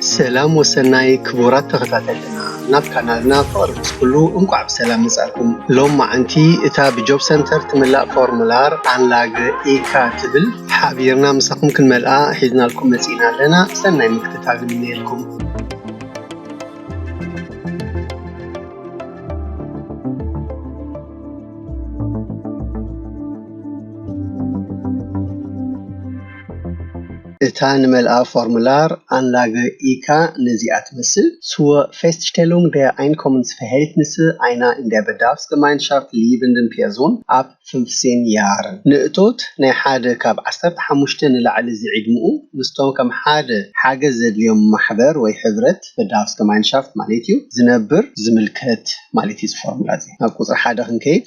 ሰላም ወሰናይ ክቡራት ተኸታተልትና ናብ ካናልና ፍቕሪ ምስ ኩሉ እንቋዕ ብሰላም መጻእኩም። ሎማዕንቲ እታ ብጆብ ሰንተር ትምላእ ፎርሙላር ኣንላግ ኢካ ትብል ሓቢርና ምሳኹም ክንመልኣ ሒዝናልኩም መጺእና ኣለና ሰናይ ምክትታል ንምነየልኩም። እታ ንመልኣ ፎርሙላር ኣንላገ ኢካ ነዚኣ ትመስል ስወ ፌስትሽቴሉንግ ደር ኣይንኮምንስፈሄልትኒሰ ኣይና ኢን ደር በዳልፍስገማይንሻፍት ሊቭንድን ፔርዞን ኣፕ ፍንፍሴን ያርን ንእቶት ናይ ሓደ ካብ ዓሰርተ ሓሙሽተ ንላዕሊ ዝዒድምኡ ምስቶም ከም ሓደ ሓገዝ ዘድልዮም ማሕበር ወይ ሕብረት በዳልፍስገማይንሻፍት ማለት እዩ ዝነብር ዝምልከት ማለት እዩ እዚ ፎርሙላ እዚ ናብ ቁጽሪ ሓደ ክንከይድ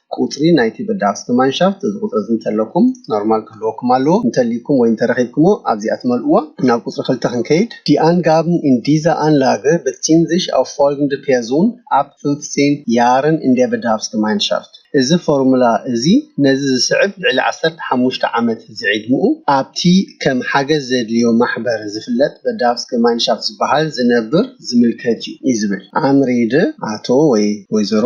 ቁጽሪ ናይቲ በዳህስተ ማንሻፍት እዚ ቁጽሪ እዚ እንተለኩም ኖርማል ክህልወኩም ኣለዎ እንተልዩኩም ወይ እንተረኺብክሞ ኣብዚኣ ትመልእዋ ናብ ቁጽሪ ክልተ ክንከይድ ዲ ኣንጋብን ኢን ዲዛ ኣንላገ በትሲንዚሽ ኣው ፎልግንደ ፔርዞን ኣብ ፍንፍጺን ያርን ኢን ደር በዳህፍስተ ማንሻፍት እዚ ፎርሙላ እዚ ነዚ ዝስዕብ ልዕሊ ዓሰርተ ሓሙሽተ ዓመት ዝዒድምኡ ኣብቲ ከም ሓገዝ ዘድልዮ ማሕበር ዝፍለጥ በዳህፍስተ ማንሻፍት ዝበሃል ዝነብር ዝምልከት እዩ እዩ ዝብል ኣንሬደ ኣቶ ወይ ወይዘሮ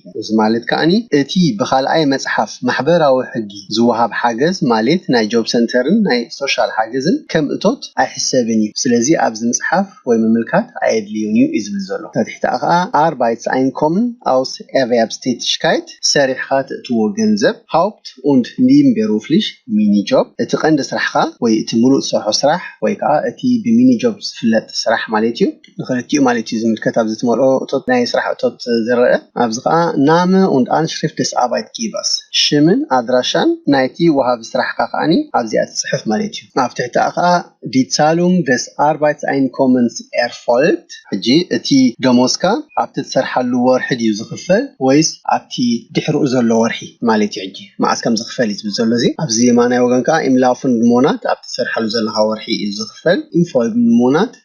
እዚ ማሌት ከኣኒ እቲ ብካልኣይ መጽሓፍ ማሕበራዊ ሕጊ ዝወሃብ ሓገዝ ማሌት ናይ ጆብ ሰንተርን ናይ ሶሻል ሓገዝን ከም እቶት ኣይሕሰብን እዩ ስለዚ ኣብዚ ምጽሓፍ ወይ ምምልካት ኣየድልዩን እዩ እዩ ዝብል ዘሎ ታትሕተኣ ከኣ ኣርባይትስኣይንኮምን ኣውስ ኤርቨያብስቴትሽካይት ሰሪሕኻ ትእትዎ ገንዘብ ሃውፕት ኡንድ ኒምቤሩፍሊሽ ሚኒጆብ እቲ ቀንዲ ስራሕኻ ወይ እቲ ምሉእ ትሰርሖ ስራሕ ወይ ከኣ እቲ ብሚኒጆብ ዝፍለጥ ስራሕ ማሌት እዩ። ንክልቲኡ ማለት እዩ ዝምልከት ኣብዚ ትመልኦ እቶት ናይ ስራሕ እቶት ዝረኣ ኣብዚ ከኣ Name und Anschrift des Arbeitgebers ሽምን ኣድራሻን ናይቲ ወሃቢ ስራሕካ ከኣ ኣብዚኣ ትጽሕፍ ማለት እዩ ኣብ ትሕቲኣ ከኣ Die Zahlung des Arbeitseinkommens erfolgt ሕጂ እቲ ደሞዝካ ኣብቲ ትሰርሓሉ ወርሒ ድዩ ዝክፈል ወይስ ኣብቲ ድሕርኡ ዘሎ ወርሒ ማለት እዩ ሕጂ መዓስ ከም ዝክፈል እዩ ዝብል ዘሎ እዚ ኣብዚ የማናይ ወገን ከኣ Im laufenden Monat ኣብቲ ትሰርሓሉ ዘለካ ወርሒ እዩ ዝክፈል Im folgenden Monat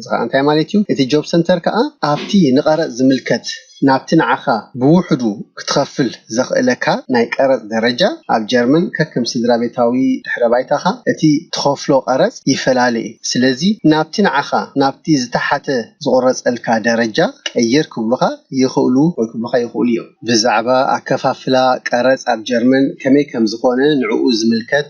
እዚ ኸኣ እንታይ ማለት እዩ? እቲ ጆብ ሰንተር ከኣ ኣብቲ ንቐረጽ ዝምልከት ናብቲ ንዓኻ ብውሕዱ ክትኸፍል ዘኽእለካ ናይ ቀረጽ ደረጃ፣ ኣብ ጀርመን ከከም ስድራቤታዊ ድሕረ ባይታኻ እቲ ትኸፍሎ ቀረጽ ይፈላለ እዩ። ስለዚ ናብቲ ንዓኻ ናብቲ ዝተሓተ ዝቑረጸልካ ደረጃ ቀይር ክብሉኻ ይኽእሉ ወይ ክብሉኻ ይኽእሉ እዮም። ብዛዕባ ኣከፋፍላ ቀረጽ ኣብ ጀርመን ከመይ ከም ዝኾነ ንዕኡ ዝምልከት።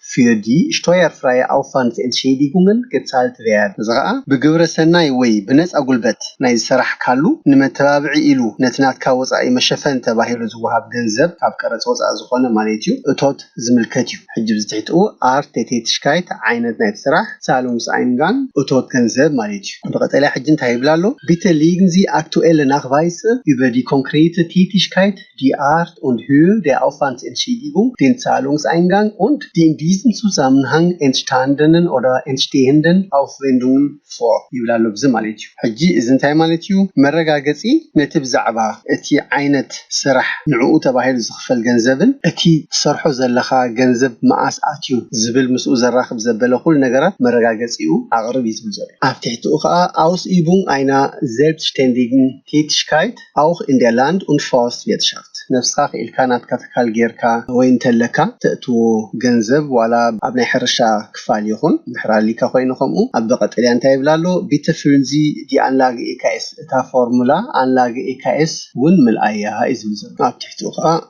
ፊር ዲ ሽቶየርፍራየ ኣውፋንስ ኤንትሼዲጉንግን ገጻልት ቨያር፣ እዚ ኸኣ ብግብረ ሰናይ ወይ ብነጻ ጉልበት ናይ ዝሰራሕካሉ ንመተባብዒ ኢሉ ነቲ ናትካ ወጻኢ መሸፈኒ ተባሂሉ ዝወሃብ ገንዘብ ካብ ቀረጽ ወጻኢ ዝኾነ ማሌትዩ እቶት ዝምልከት እዩ። ሕጂ ብዚ ትሕቲ ኡ ኣር ቴቴትሽካይት ዓይነት ናይቲ ስራሕ ዛሉንግስኣይንጋን እቶት ገንዘብ ማለት እዩ። ብቀጠልያ ሕጂ እንታይ ይብል ኣሎ፣ ቢተ ሊግን ዚ ኣክቱኤለ ናክቫይሰ ዩበ ዲ ኮንክሬይተ ቴቲሽካይት፣ ዲ ኣርት ኡንድ ሂር ዴ ኣውፋንት ኤንትሺዲጉንግ ዴን ዛሉንግስኣይንጋንግ ኡንድ ዲ ኢን ዲዝም ዙዛምንሃንግ ኤንትሽታንደንን ኦደር ኤንትሽቴህንደን ኣውፍዌንዱንግን ፎር ይብል ኣሎ ብዚ ማለት እዩ። ሕጂ እዚ እንታይ ማለት እዩ? መረጋገጺ ነቲ ብዛዕባ እቲ ዓይነት ስራሕ ንዕኡ ተባሂሉ ዝኽፈል ገንዘብን እቲ ትሰርሖ ዘለኻ ገንዘብ መኣስ ኣትዩ ዝብል ምስኡ ዘራኽብ ዘበለ ኩሉ ነገራት መረጋገጺኡ ኣቕርብ እዩ ዝብል ዘሎ። ኣብ ትሕቲኡ ከኣ ኣውስኢቡንግ ኣይና ዜልብስሽቴንዲግንቲትሽካይት፣ ኣውኽ ኢን ደር ላንድ ኡንድ ፋውስት ቪርትሻፍት፣ ነብስኻ ክኢልካ ናትካ ትካል ጌርካ ወይ እንተለካ ተእትዎ ገንዘብ ዋላ ኣብ ናይ ሕርሻ ክፋል ይኹን፣ ድሕሪ ኣሊካ ኮይኑ ከምኡ፣ ኣብ ቀጠልያ እንታይ ይብል ኣሎ፣ ቢተ ፍዩል ዚ ዲ ኣንላገ EKS እታ ፎርሙላ ኣንላገ EKS ውን ምልኣያ እዩ ዝብል ዘሎ፣ ኣብ ትሕቲኡ ከኣ።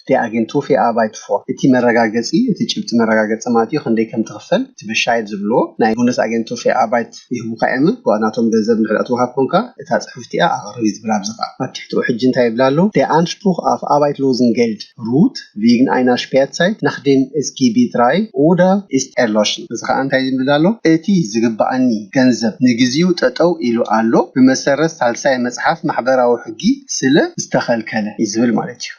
እቲ ኣግንቱ ፌ ኣርባይት ፎር እቲ መረጋገጺ እቲ ጭብጢ መረጋገጺ ማለት እዩ ክንደይ ከም ትኽፈል እቲ በሻይር ዝብልዎ ናይ ቡንደስ ኣግንቱ ፌ ኣርባይት ይህቡካ እዮመ ጓ ናቶም ገንዘብ እንድሕር ዳኣ ትውሃብ ኮንካ እታ ጽሑፍቲ እያ ኣቕርብ እዩ ዝብል ኣብዚ ካኣ ኣብ ትሕቲኡ ሕጂ እንታይ ይብል ኣሎ ዴ ኣንሽፕሩኽ ኣፍ ኣርባይት ሎዝን ጌልድ ሩት ቪግን ኣይና ሽፔርትሳይት ናኽ ዴም ኤስ ጊ ቢ ትራይ ኡደር ኢስት ኤርሎሽን እዚ ካኣ እንታይ ዝብል ኣሎ እቲ ዝግባኣኒ ገንዘብ ንግዚኡ ጠጠው ኢሉ ኣሎ ብመሰረት ሳልሳይ መጽሓፍ ማሕበራዊ ሕጊ ስለ ዝተኸልከለ እዩ ዝብል ማለት እዩ።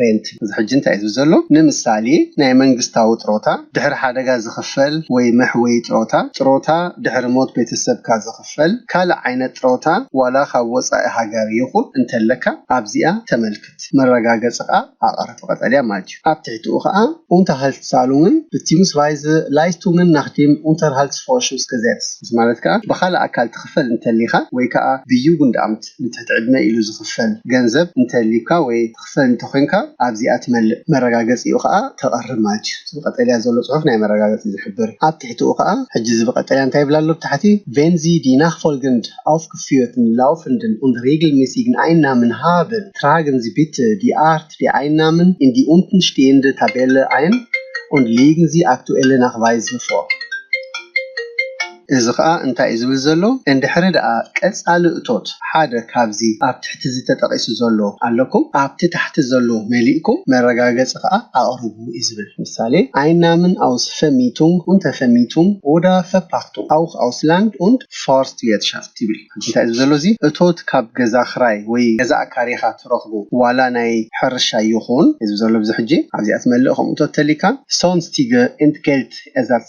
ሬንት እዚ ሕጂ እንታይ እዩ ዘሎ ንምሳሌ ናይ መንግስታዊ ጥሮታ ድሕሪ ሓደጋ ዝኽፈል ወይ መሕወዪ ጥሮታ ጥሮታ ድሕሪ ሞት ቤተሰብካ ዝኽፈል ካልእ ዓይነት ጥሮታ ዋላ ካብ ወጻኢ ሃገር ይኹን እንተለካ ኣብዚኣ ተመልክት መረጋገጽኻ ኣቕርብ ብቀጠልያ ማለት እዩ ኣብ ትሕቲኡ ከኣ Unterhaltszahlungen beziehungsweise Leistungen nach dem Unterhaltsvorschussgesetz እዚ ማለት ከኣ ብኻልእ ኣካል ትኽፈል እንተሊኻ ወይ ከኣ ብJugendamt ዓመት ንትሕቲ ዕድመ ኢሉ ዝኽፈል ገንዘብ እንተልዩካ ወይ ትኽፈል እንተኾይንካ ኣብዚኣ ትመልእ መረጋገጺኡ ከኣ ተቐርብ ማለት እዩ እቲ ብቀጠልያ ዘሎ ጽሑፍ ናይ መረጋገጺ ዝሕብር ኣብ ትሕቲኡ ከኣ ሕጂ እዚ ብቀጠልያ እንታይ ይብል ኣሎ ብታሕቲ ቨን ዚ ዲ ናክፎልገንድ ኣውፍግፍዮትን ላውፈንድን ኡንድ ሬግልሜሲግን ኣይንናምን ሃብን ትራግን ዚ ቢተ ዲ ኣርት ዲ ኣይንናምን ኢን ዲ ኡንትን ሽቴየንደ ታቤለ ኣይን ኡንድ ሊግን ዚ ኣክቱኤለ ናክቫይዝ ን ፎር እዚ ከኣ እንታይ እዩ ዝብል ዘሎ እንድሕሪ ደኣ ቀጻሊ እቶት ሓደ ካብዚ ኣብ ትሕቲዚ ተጠቂሱ ዘሎ ኣለኩም ኣብቲ ታሕቲ ዘሎ መሊእኩም መረጋገጺ ከኣ ኣቅርቡ እዩ ዝብል። ምሳሌ፣ Einnahmen aus Vermietung und Vermietung oder Verpachtung auch aus Land und Forstwirtschaft ይብል። ሕጂ እንታይ እዩ ዝብል ዘሎ እዚ እቶት ካብ ገዛ ክራይ ወይ ገዛ ኣካሪኻ ትረኽቦ ዋላ ናይ ሕርሻ ይኹን እዩ ዝብል ዘሎ ብዚ ሕጂ ኣብዚኣ ትመልእ ከምኡ እቶት ተሊካ፣ Sonstige Entgeltersatz፣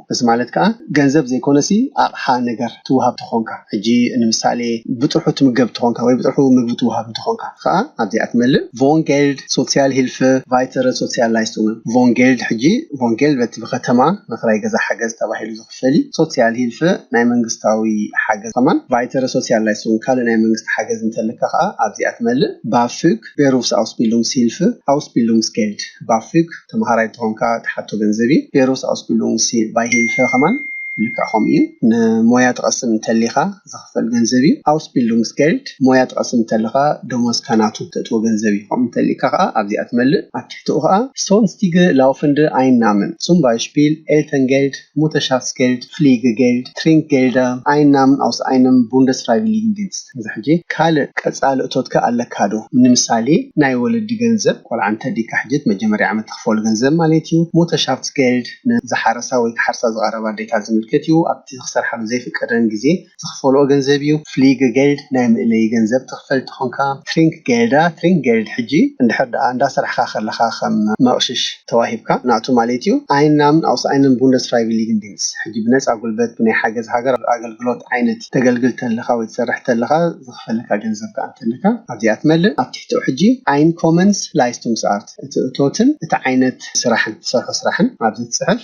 እዚ ማለት ከኣ ገንዘብ ዘይኮነሲ ኣቕሓ ነገር ትውሃብ ተኾንካ ሕጂ ንምሳሌ ብጥርሑ ትምገብ ተኾንካ ወይ ብጥርሑ ምግቢ ትውሃብ እንተኾንካ ከኣ ኣብዚኣ ትመልእ ቮን ጌልድ ሶትሲያል ሂልፈ ቫይተረ ሶትሲያል ላይስቱንገን ቮን ጌልድ ሕጂ ቮን ጌልድ በቲ ብኸተማ ንክራይ ገዛ ሓገዝ ተባሂሉ ዝኽፈል እዩ ሶትሲያል ሂልፈ ናይ መንግስታዊ ሓገዝ ከማን ቫይተረ ሶትሲያል ላይስቱንግ ካልእ ናይ መንግስቲ ሓገዝ እንተለካ ከኣ ኣብዚኣ ትመልእ ባፍግ ቤሩፍስኣውስቢሉንግስሂልፍ ኣውስቢሉንግስጌልድ ባፍግ ተምሃራይ ተኾንካ ትሓቶ ገንዘብ እዩ ቤሩፍስኣውስቢሉንግስ ባይሂልፈ ከማን ልክዕ ከምኡ እዩ ንሞያ ትቐስም እንተሊኻ ዝኽፈል ገንዘብ እዩ ኣውስቢሉንግስጌልድ ሞያ ትቐስም እንተለኻ ደሞዝካ ናቱ ተእትዎ ገንዘብ እዩ ከምኡ እንተሊካ ከኣ ኣብዚኣ ትመልእ ኣብ ትሕትኡ ከኣ ሶንስቲገ ላውፍንደ ኣይንናምን ጹምባይሽፒል ኤልተንጌልድ ሙተሻፍስጌልድ፣ ፍሊገጌልድ፣ ትሪንክጌልደ፣ ኣይንናምን ኣውስ ኣይንም ቡንደስፍራይቪሊግንዲንስት፣ እዚ ሕጂ ካልእ ቀጻሊ እቶትከ ኣለካዶ? ንምሳሌ ናይ ወለዲ ገንዘብ፣ ቆልዓ እንተ ዲካ ሕጂ እቲ መጀመርያ ዓመት ትክፈሎ ገንዘብ ማለት እዩ። ሙተሻፍስጌልድ ን ዝሓረሳ ወይ ክሓርሳ ዝቐረባ ኣዴታት ዝምልከት እዩ፣ ኣብቲ ክሰርሓሉ ዘይፍቀደን ግዜ፣ ዝኽፈልኦ ገንዘብ እዩ። ፍሊገገልድ ናይ መእለዪ ገንዘብ ትኽፈል እንተኾንካ፣ ትሪንክገልዳ፣ Trinkgeld፣ ሕጂ እንድሕር ደኣ እንዳ ሰራሕካ ከለኻ ከም መቕሽሽ ተዋሂብካ ናቱ ማሌት እዩ። ኣይንናምን ኣውስ ኣይንን ቡንደስ ፍራይቪሊግን ዲንስ፣ ሕጂ ብነጻ ጉልበት ብናይ ሓገዝ ሃገር ኣገልግሎት ዓይነት ተገልግል ተለኻ ወይ ትሰርሕ ተለኻ ዝኽፈለካ ገንዘብ ከኣ እንተለካ ኣብዚኣ ትመልእ። ኣብ ትሕቲኡ ሕጂ ኣይንኮመንስ ላይስቱንግስኣርት፣ እቲ እቶትን እቲ ዓይነት ስራሕን ትሰርሖ ስራሕን ኣብዚ ትጽሕፍ።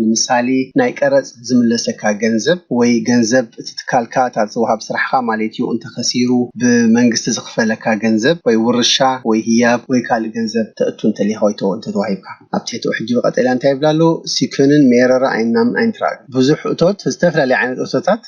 ንምሳሌ ናይ ቀረጽ ዝምለሰካ ገንዘብ ወይ ገንዘብ እቲ ትካልካ እታ ዝወሃብ ስራሕኻ ማሌት እዩ እንተኸሲሩ ብመንግስቲ ዝኽፈለካ ገንዘብ ወይ ውርሻ ወይ ህያብ ወይ ካልእ ገንዘብ ተእቱ እንተሊኻ ወይ እንተተዋሂብካ ኣብ ትሕቲኡ ሕጂ ብቀጠልያ እንታይ ይብል ኣሎ ሲኩንን ሜረረ ኣይናምን ኣይንትራግን ብዙሕ እቶት ዝተፈላለየ ዓይነት እቶታት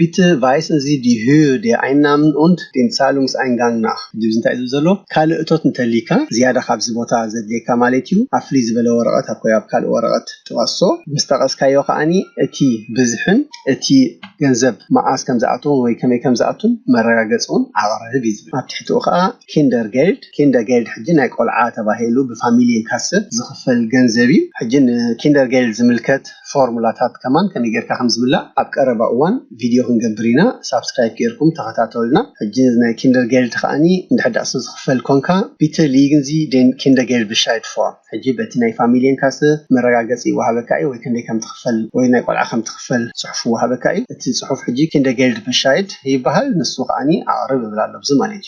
Bitte weisen Sie die Höhe der Einnahmen und den Zahlungseingang nach ድዩ ዝንታይ እዩ ዝብል ዘሎ ካልእ እቶት እንተልይካ ዝያዳ ካብዚ ቦታ ዘድልየካ ማለት እዩ ኣብ ፍልይ ዝበለ ወረቐት ኣኮይ ኣብ ካልእ ወረቐት ጥቐሶ ምስ ጠቐስካዮ ከኣኒ እቲ ብዝሕን እቲ ገንዘብ መዓዝ ከም ዝኣተወን ወይ ከመይ ከም ዝኣቱን መረጋገጺ ውን ኣቕርብ እዩ ዝብል ኣብ ትሕቲኡ ከኣ Kindergeld Kindergeld ሕጂ ናይ ቆልዓ ተባሂሉ ብፋሚልየንካሰ ዝኽፈል ገንዘብ እዩ ሕጂ ንኪንደርገይልድ ዝምልከት ፎርሙላታት ከማን ከመይ ጌርካ ከም ዝምላእ ኣብ ቀረባ እዋን ቪድዮ ክንገብር ኢና ሳብስክራይብ ጌርኩም ተኸታተሉና ሕጂ ናይ ኪንደርጌልድ ከኣኒ እንድሕር ደኣ ሰብ ዝኽፈል ኮንካ ቢተ ሊግን ዚ ዴን ኪንደርጌልድብሻይድ ፎር ሕጂ በቲ ናይ ፋሚልየን ካሰ መረጋገጺ ይወሃበካ እዩ ወይ ከንደይ ከም ትኽፈል ወይ ናይ ቆልዓ ከም ትኽፈል ጽሑፍ ይወሃበካ እዩ እቲ ጽሑፍ ሕጂ ኪንደርጌልድብሻይድ ይበሃል ንሱ ከኣኒ ኣቕርብ እብል ኣሎ ብዚ ማለት እዩ።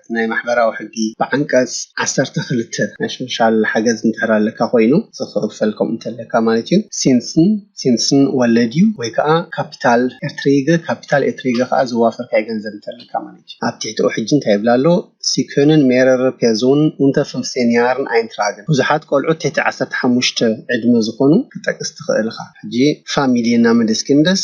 መሰረት ናይ ማሕበራዊ ሕጊ ብዓንቀጽ ዓሰርተ ክልተ ናይ ሶሻል ሓገዝ እንድሕር ኣለካ ኮይኑ ዝክፈል ከምኡ እንተለካ ማለት እዩ ሲንስን ሲንስን ወለድ እዩ ወይ ከኣ ካፒታል ኤርትሪገ ካፒታል ኤርትሪገ ከኣ ዝዋፈርካዮ ገንዘብ እንተለካ ማለት እዩ ኣብ ትሕቲኡ ሕጂ እንታይ ይብል ኣሎ ሲኮንን ሜረር ፔዞን ኡንተ ፍንፍቴን ያርን ኣይንትራግን ብዙሓት ቆልዑት ትሕቲ ዓሰርተ ሓሙሽተ ዕድመ ዝኾኑ ክትጠቅስ ትኽእል እኻ ሕጂ ፋሚልየና ምደስኪንደስ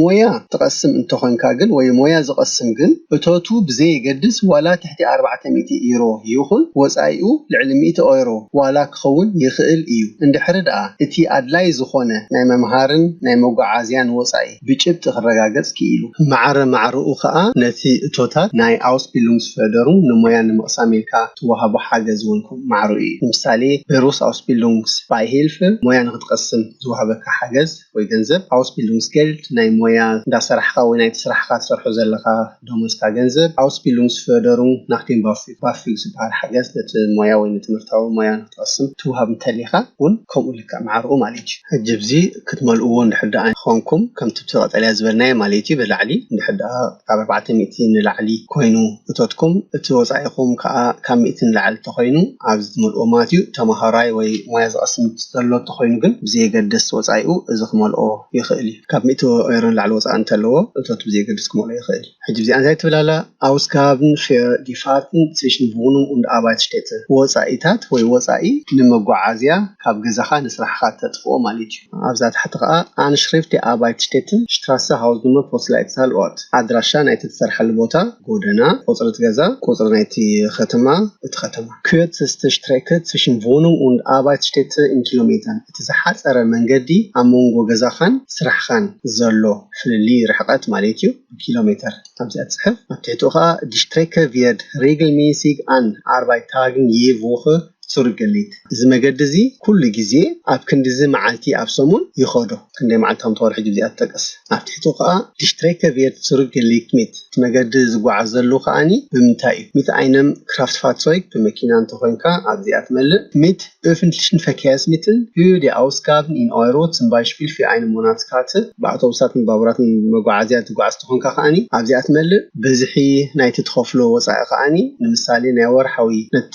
ሞያ ትቐስም እንተኾንካ ግን ወይ ሞያ ዝቐስም ግን እቶቱ ብዘየገድስ ዋላ ትሕቲ ኣርባዕተ ሚእቲ ኢሮ ይኹን ወጻኢኡ ልዕሊ ሚእቲ ኦይሮ ዋላ ክኸውን ይኽእል እዩ እንድሕሪ ድኣ እቲ ኣድላይ ዝኾነ ናይ መምሃርን ናይ መጎዓዝያን ወጻኢ ብጭብጢ ክረጋገጽ ክኢሉ። ማዕረ ማዕረኡ ከኣ ነቲ እቶታት ናይ ኣውስቢሉንግስፈርደሩንግ ንሞያ ንምቕሳም ኢልካ ትወሃቦ ሓገዝ እውን ከምኡ ማዕረኡ እዩ። ንምሳሌ ቤሩስ ኣውስቢሉንግስ ባይሂልፈ ሞያ ንኽትቐስም ዝወሃበካ ሓገዝ። ወይ ገንዘብ Ausbildungsgeld ናይ ሞያ እንዳ ሰራሕኻ ወይ ናይቲ ስራሕኻ ትሰርሖ ዘለኻ ደሞዝካ ገንዘብ Ausbildungsförderung nach dem BAföG ባፍግ ዝበሃል ሓገዝ ነቲ ሞያ ወይ ንትምህርታዊ ሞያ ንክትቐስም ትውሃብ እንተሊኻ ውን ከምኡ ልክዕ ማዕርኡ ማለት እዩ። ሕጂ ብዚ ክትመልእዎ እንድሕር ደኣ ኾንኩም ከምቲ ብቲ ቀጠልያ ዝበልናዮ ማለት እዩ ብላዕሊ እንድሕር ደኣ። ካብ ኣርባዕተ ሚእቲ ንላዕሊ ኮይኑ እቶትኩም እቲ ወጻኢኹም ከኣ ካብ ሚእቲ ንላዕሊ ተኾይኑ ኣብዚ ትመልእዎ ማለት እዩ ተማሃራይ ወይ ሞያ ዝቐስም ዘሎ ተኾይኑ ግን ብዘየገድስ ወጻኢኡ እዚ ክመልኦ ይኽእል እዩ ካብ ሚእቲ ኦይሮ ንላዕሊ ወጻኢ እንተለዎ እቶት ብዘየገድስ ክመልኦ ይኽእል ሕጂ ብዚኣ እንታይ ትብል ኣላ Ausgaben für die Fahrten zwischen Wohnung und Arbeitsstätte ወጻኢታት ወይ ወጻኢ ንመጓዓዝያ ካብ ገዛኻ ንስራሕኻ እተጥፍኦ ማለት እዩ። ኣብዛ ታሕቲ ከኣ ኣንሽሪፍት ዲ ኣርባይት ሽቴትን ሽትራሰ ሃውዝኑመር ፖስላይትዛል ኦርት፣ ኣድራሻ ናይቲ ትሰርሓሉ ቦታ፣ ጎደና፣ ቁጽሪ እቲ ገዛ፣ ቁጽሪ ናይቲ ከተማ፣ እቲ ከተማ፣ ኩየርትስተ ሽትሬከ ጽሽን ቮኑንግ ኡንድ ኣርባይትሽቴተ ኢን ኪሎሜተርን፣ እቲ ዝሓጸረ መንገዲ ኣብ መንጎ ገዛኻን ስራሕኻን ዘሎ ፍልልይ ርሕቀት ማለት እዩ ብኪሎሜተር ኣብዚኣ ትጽሕፍ፣ ኣብ ትሕቲኡ ከኣ ዲ ሽትሬከ ቪየርድ ሪግልሚሲግ ኣን ኣርባይታግን ይ ቮኸ፣ ሱር ገሊት እዚ መገዲ እዚ ኩሉ ግዜ ኣብ ክንድዚ መዓልቲ ኣብ ሰሙን ይኸዶ ክንደይ መዓልቲ ከም ትኸዶ ሕጂ ብዚኣ ትጠቀስ ኣብ ትሕቱ ከኣ ዲ ስትሬከ ቪየት ሱር ገሊት ሚት እቲ መገዲ ዝጓዓዘሉ ከኣኒ ብምንታይ እዩ ሚት ኣይነም ክራፍትፋትሶይግ ብመኪና እንተ ኮይንካ ኣብዚኣ ትመልእ ሚት ኡፍንትሊሽን ፈርኬርስሚትል ኡዩ ዲ ኣውስጋብን ኢን ኦይሮ ጽም ባይሽፒል ፊር ኣይነ ሞናት ካርትል ብኣውቶቡሳትን ባቡራትን መጓዓዝያ ትጓዓዝ እንተ ኮንካ ከኣኒ ኣብዚኣ ትመልእ ብዝሒ ናይቲ ትኸፍሎ ወጻኢ ከኣኒ ንምሳሌ ናይ ወርሓዊ ነቲ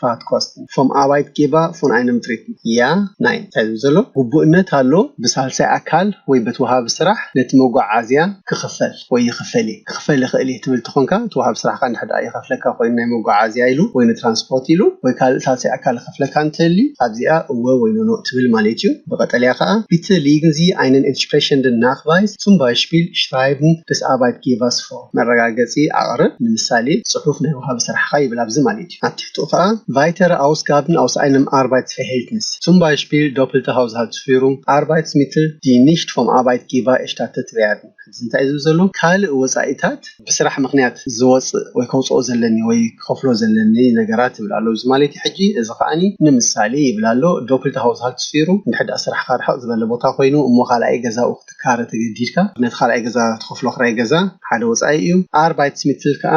ፋትኮስትን ፎም ኣባይት ጌቫ ፎን ኣይንም ትሪት ያ ናይ እንታይ ዝብል ዘሎ ግቡእነት ኣሎ ብሳልሳይ ኣካል ወይ በቲ ወሃቢ ስራሕ ነቲ መጎዓዝያ ክኽፈል ወይ ይኽፈል እየ ክኽፈል ይኽእል እየ ትብል ተኾንካ እቲ ወሃቢ ስራሕካ እንድሕር ደኣ ይኸፍለካ ኮይኑ ናይ መጎዓዝያ ኢሉ ወይ ንትራንስፖርት ኢሉ ወይ ካልእ ሳልሳይ ኣካል ክኸፍለካ እንተልዩ ኣብዚኣ እወ ወይ ኖኖ እትብል ማለት እዩ ብቐጠልያ ከኣ ቢተ ሊግን ዚ ኣይንን ኤንትሽፕሬሸንድን ናክቫይስ ጹም ባይሽፒል ሽራይብን ደስ ኣባይት ጌቫስ ፎ መረጋገጺ ኣቕርብ ንምሳሌ ጽሑፍ ናይ ወሃቢ ስራሕኻ ይብል ኣብዚ ማለት እዩ። ኣብ ትሕቲኡ ከኣ ቫይተረ ኣውስጋብን ኣውስ ኣይነም ኣርባይትስፌሄልትንስ ሱም ባይሽፒል ዶፕልተ ሃውዝሃልትስፊሩም ኣርባይትስሚትል ዲ ኒሽት ፎም ኣባይት ጊባ ኤሽታተት ቬያርድን ሕዚ እንታይ እዩ ዝብል ዘሎ ካልእ ወጻኢታት ብስራሕ ምክንያት ዝወጽእ ወይ ከውጽኦ ዘለኒ ወይ ክኸፍሎ ዘለኒ ነገራት ይብል ኣሎ እዚ ማለትዩ ሕጂ እዚ ከኣ ንምሳሌ ይብል ኣሎ ዶፕልተ ሃውዝሃልትስፊሩ እንድሕር ደኣ ስራሕካ ርሕቅ ዝበለ ቦታ ኮይኑ እሞ ካልኣይ ገዛኡ ክትካረ ተገዲድካ ነቲ ካልኣይ ገዛ ትኸፍሎ ክራይ ገዛ ሓደ ወጻኢ እዩ ኣርባይትስሚትል ከኣ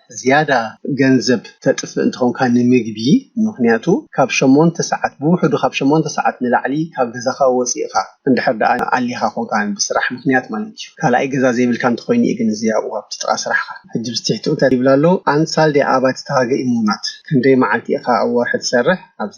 ዝያዳ ገንዘብ ተጥፍእ እንተኾንካ ንምግቢ ምኽንያቱ ካብ ሸሞንተ ሰዓት ብውሕዱ ካብ ሸሞንተ ሰዓት ንላዕሊ ካብ ገዛኻ ወጺእኻ እንድሕር ደኣ ኣሊኻ ኮንካ ብስራሕ ምኽንያት ማለት እዩ ካልኣይ ገዛ ዘይብልካ እንተኾይኑ እዩ ግን እዚ ኣብኡ ኣብቲ ጥቓ ስራሕኻ ሕጂ ብዚ ትሕትኡ እንታይ ይብሉ ኣለዉ ኣንሳልዴ ኣባቲ ታገ ኢሞናት ክንደይ መዓልቲ ኢኻ ኣብ ወርሒ ትሰርሕ ኣብዚ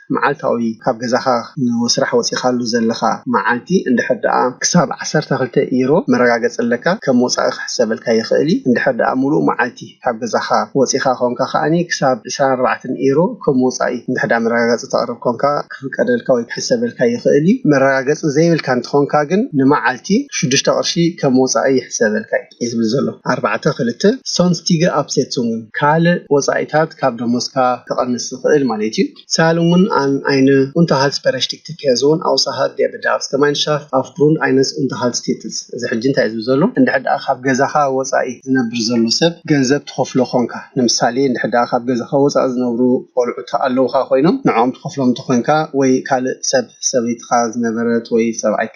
መዓልታዊ ካብ ገዛኻ ንወስራሕ ወጺኻሉ ዘለኻ መዓልቲ እንድሕር ደኣ ክሳብ ዓሰርተ ክልተ ኢሮ መረጋገጺ ኣለካ ከም ወጻኢ ክሕሰበልካ ይኽእል እዩ። እንድሕር ደኣ ምሉእ መዓልቲ ካብ ገዛኻ ወጺኻ ኮንካ ከኣ ክሳብ ዕስራን ኣርባዕተን ኢሮ ከም ወጻኢ እንድሕር ደኣ መረጋገጺ ተቕርብ ኮንካ ክፍቀደልካ ወይ ክሕሰበልካ ይኽእል እዩ። መረጋገጺ ዘይብልካ እንተኾንካ ግን ንመዓልቲ ሽዱሽተ ቅርሺ ከም ወጻኢ ይሕሰበልካ እዩ። እዩ ዝብል ዘሎ ኣርባዕተ ክልተ ሶንስቲገ ኣፕሴትሱንግን ካልእ ወጻኢታት ካብ ደሞዝካ ክቐንስ ዝኽእል ማለት እዩ። ሳልንግን ኣን ኣይነ ኡንተሃልትስበረሽቲግት ፔርዞን ኣውሳሃር ዴር ቤዳርፍስገማይንሻፍት ኣፍግሩንድ ኣይነስ ኡንተሃልትስቲትስ እዚ ሕጂ እንታይ እዩ ዝብል ዘሎ እንድሕር ደኣ ካብ ገዛኻ ወጻኢ ዝነብር ዘሎ ሰብ ገንዘብ ትኸፍሎ ኮንካ ንምሳሌ እንድሕር ደኣ ካብ ገዛኻ ወጻኢ ዝነብሩ ቆልዑ ተኣለውኻ ኮይኖም ንዕኦም ትኸፍሎም እንተኾይንካ ወይ ካልእ ሰብ ሰበይትኻ ዝነበረት ወይ ሰብኣይክ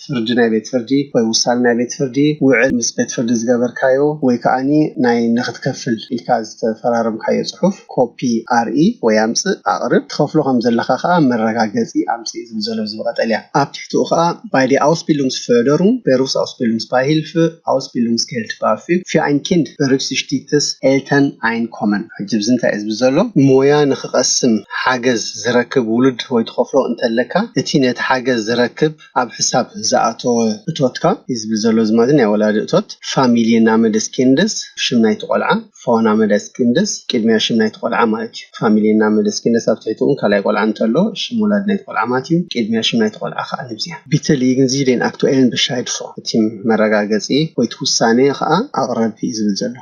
ፍርዲ ናይ ቤት ፍርዲ ወይ ውሳነ ናይ ቤት ፍርዲ ውዕል ምስ ቤት ፍርዲ ዝገበርካዮ ወይ ከኣ ናይ ንኽትከፍል ኢልካ ዝተፈራረምካዮ ጽሑፍ ኮፒ ኣርኢ ወይ ኣምጽእ ኣቕርብ ትኸፍሎ ከም ዘለኻ ከኣ መረጋገጺ ኣምጽእ ዝብል ዘሎ ብዚ ብቐጠልያ ኣብ ትሕትኡ ከኣ ባይ ዲ ኣውስቢሉንግስፍርደሩንግ በሩስኣውስቢሉንግስፓሂልፍኣውስቢሉንግስኬልድባፊግፊኣይንኪንድ በርግሲሽቲትስኤልተንኣይንኮመን ሕጂ ብዚ እንታይ እዩ ዝብል ዘሎ ሞያ ንኽቐስም ሓገዝ ዝረክብ ውሉድ ወይ ትኸፍሎ እንተለካ እቲ ነቲ ሓገዝ ዝረክብ ኣብ ሕሳብ ዝኣተወ እቶትካ ኢዝቢ ዘሎ ዝማዚ ናይ ወላዲ እቶት፣ ፋሚልየናመደስኪንድስ፣ ሽም ናይቲ ቆልዓ፣ ፋውናመደስኪንድስ፣ ቅድሚያ ሽም ናይቲ ቆልዓ ማለት እዩ። ፋሚልየናመደስኪንድስ ኣብ ትሕቲ እውን ካልኣይ ቆልዓ እንተሎ ሽም ወላዲ ናይቲ ቆልዓ ማለት እዩ። ቅድሚያ ሽም ናይቲ ቆልዓ ከኣ ንብዚያ ቢትሊይግን ዚደን ኣክቱኤልን በሻይድ ፎ እቲ መረጋገጺ ወይ እቲ ውሳኔ ከኣ ኣቕረብ እዩ ዝብል ዘሎ።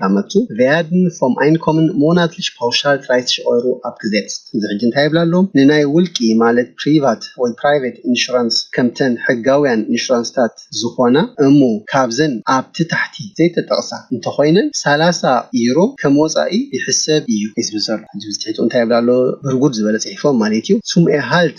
ላመቱ ቨያድን ፎም ኣይንኮምን ሞናትልሽ ፓውሻል ትራይትሽ ኦይሩ ኣብ ክዜትስ እዚ ሕጂ እንታይ ይብላ ኣሎ ንናይ ውልቂ ማለት ፕሪቫት ወይ ፕራይቬት ኢንሹራንስ ከምተን ሕጋውያን ኢንሹራንስታት ዝኾና እሞ ካብዘን ኣብቲ ታሕቲ ዘይተጠቕሳ እንተኾይነን ሰላሳ ዩሮ ከም ወጻኢ ይሕሰብ እዩ ዝብል ዘሎ ሕጂ ብዝትሒቱ እንታይ ይብል ኣሎ ብርጉድ ዝበለ ጽሒፎም ማለት እዩ ሱም ኤርሃልት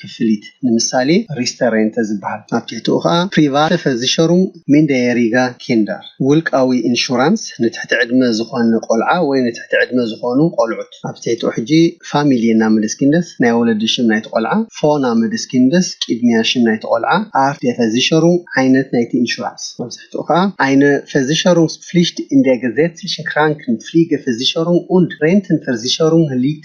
ክፍሊት፣ ንምሳሌ ሪስተሬንተ ዝበሃል፣ ኣብ ትሕቲኡ ከኣ ፕሪቫተ ፈዚሸሩንግ ሚንደየሪጋ ኪንደር፣ ውልቃዊ ኢንሹራንስ ንትሕቲ ዕድመ ዝኾነ ቆልዓ ወይ ንትሕቲ ዕድመ ዝኾኑ ቆልዑት፣ ኣብ ትሕቲኡ ሕጂ ፋሚልየናመደስኪንደስ፣ ናይ ወለዲ ሽም ናይቲ ቆልዓ፣ ፎናመደስኪንደስ፣ ቂድሚያ ሽም ናይቲ ቆልዓ፣ ኣርት ዴ ፈዚሸሩንግ፣ ዓይነት ናይቲ ኢንሹራንስ፣ ኣብ ትሕቲኡ ከኣ ኣይነ ፈዚሸሩንግስ ፍሊሽት ኢንደገዜትሊሸ ክራንክን ፍሊገ ፈዚሸሩንግ ኡንድ ሬንትን ፈርዚሸሩንግ ሊት።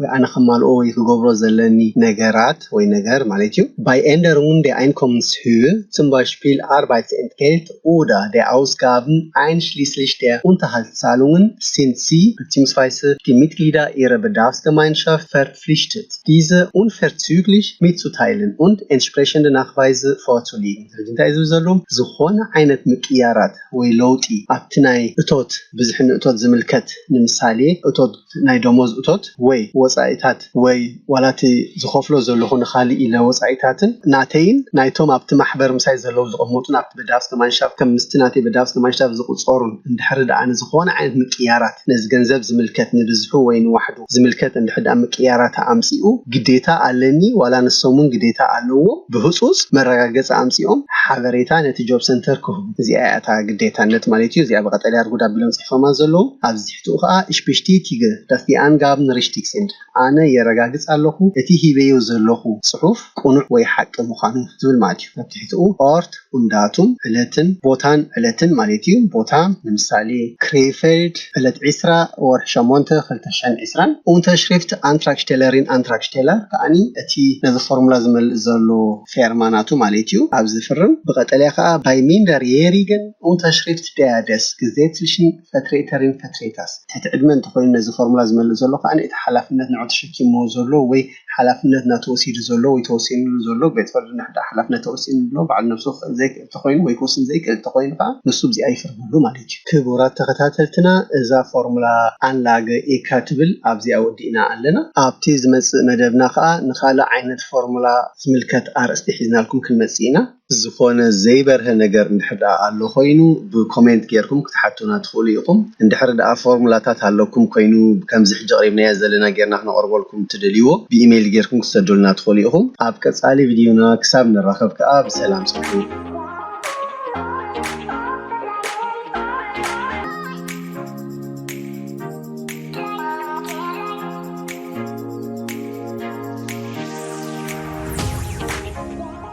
ወይ ኣነ ከማልኦ ወይ ክገብሮ ዘለኒ ነገራት ወይ ነገር ማለት እዩ። ባይ ኤንደር ውን ዴ ኣይንኮምንስ ሁ ቱም ባይ ሽፒል ኣርባይት ኤንድ ጌልት ኡዳ ዴ ኣውስጋብን ኣይንሽሊስሊሽ ዴ ኡንተሃልትሳሉንግን ሲንት ሲ በትሲምስፋይስህ ዲ ሚትግሊዳ ኢረ በዳውስገማይንሻፍት ፌርፕፍሊሽትት ዲዘ ኡንፌርትዙግሊሽ ሚትዙታይልን ኡንድ ኤንትሽፕሬሽንደ ናክቫይዝህ ፎቱ ሊግን። ስለዚ እንታይ እዩ ዝብል ዘሎ? ዝኾነ ዓይነት ምቅይያራት ወይ ለውጢ ኣብቲ ናይ እቶት ብዝሕን ንእቶት ዝምልከት ንምሳሌ እቶት፣ ናይ ደሞዝ እቶት ወይ ወጻኢታት ወይ ዋላ እቲ ዝኸፍሎ ዘለኹ ንኻልእ ኢለ ወጻኢታትን ናተይን ናይቶም ኣብቲ ማሕበር ምሳይ ዘለዉ ዝቕመጡን ኣብቲ Bedarfsgemeinschaft ከም ምስቲ ናተይ Bedarfsgemeinschaft ዝቑጸሩን እንድሕሪ ደኣ ንዝኾነ ዓይነት ምቅይያራት ነዚ ገንዘብ ዝምልከት ንብዝሑ ወይ ንዋሕዱ ዝምልከት እንድሕሪ ደኣ ምቅይያራታ ኣምጺኡ ግዴታ ኣለኒ ዋላ ንሶምውን ግዴታ ኣለዎም ብህጹጽ መረጋገጺ ኣምጺኦም ሓበሬታ ነቲ Jobcenter ክህቡ እዚኣ እያ እታ ግዴታነት ማለት እዩ እዚኣ ብቀጠልያ ኣርጉድ ኣቢሎም ጽሒፎማ ዘለዉ ኣብዚ ሽትኡ ከኣ እሽ በሽቲቲገ ደፍቲ ኣንጋብ ንሪሽቲግ ሲንድ ኣነ የረጋግጽ ኣለኹ እቲ ሂበዮ ዘለኹ ጽሑፍ ቅኑዕ ወይ ሓቂ ምዃኑ ዝብል ማለት እዩ። ኣብ ትሕትኡ ኦርት ኡን ዳቱም ዕለትን ቦታን ዕለትን ማለት እዩ ቦታ ንምሳሌ ክሬይፌልድ ዕለት ዕስራ ወርሒ ሸሞንተ ክልተ ሽሕን ዕስራን ኡንተሽሪፍት ኣንትራግሽቴለሪን ኣንትራግሽቴለር ከኣ እቲ ነዚ ፎርሙላ ዝመልእ ዘሎ ፌርማ ናቱ ማለት እዩ ኣብ ዝፍርም ብቀጠልያ ከኣ ባይ ሚንደር የሪገን ኡንተሽሪፍት ደያ ደስ ግዜትልሽን ፈትሬተሪን ፈትሬታስ ትሕቲ ዕድመ እንተኾይኑ ነዚ ፎርሙላ ዝመልእ ዘሎ ከኣ እቲ ሓላፍነት ንዑ ተሸኪምዎ ዘሎ ወይ ሓላፍነት ናቱ ወሲዱ ዘሎ ወይ ተወሲንሉ ዘሎ ቤት ፍርዲ እንድሕር ሓላፍነት ተወሲንሉ ባዕሉ ነብሱ ክኽእል ዘይክእል እንተኾይኑ ወይ ክውስን ዘይክእል እንተኾይኑ ከኣ ንሱ ብዚኣ ይፍርደሉ ማለት እዩ። ክቡራት ተኸታተልትና እዛ ፎርሙላ ኣንላገ ኢካ ትብል ኣብዚኣ ወዲእና ኣለና። ኣብቲ ዝመጽእ መደብና ከኣ ንኻልእ ዓይነት ፎርሙላ ዝምልከት ኣርእስቲ ሒዝናልኩም ክንመጽእ ኢና። ዝኾነ ዘይበርሀ ነገር እንድሕር ድኣ ኣሎ ኮይኑ ብኮሜንት ጌርኩም ክትሓቱና ትኽእሉ ኢኹም። እንድሕር ድኣ ፎርሙላታት ኣለኩም ኮይኑ ከምዚ ሕጂ ኣቕሪብናዮ ዘለና ጌርና ክነቕርበልኩም እትደልይዎ ብኢሜይል ጌርኩም ክትሰዱልና ትኽእሉ ኢኹም። ኣብ ቀጻሊ ቪድዮና ክሳብ ንራኸብ ከኣ ብሰላም ጽንሑ።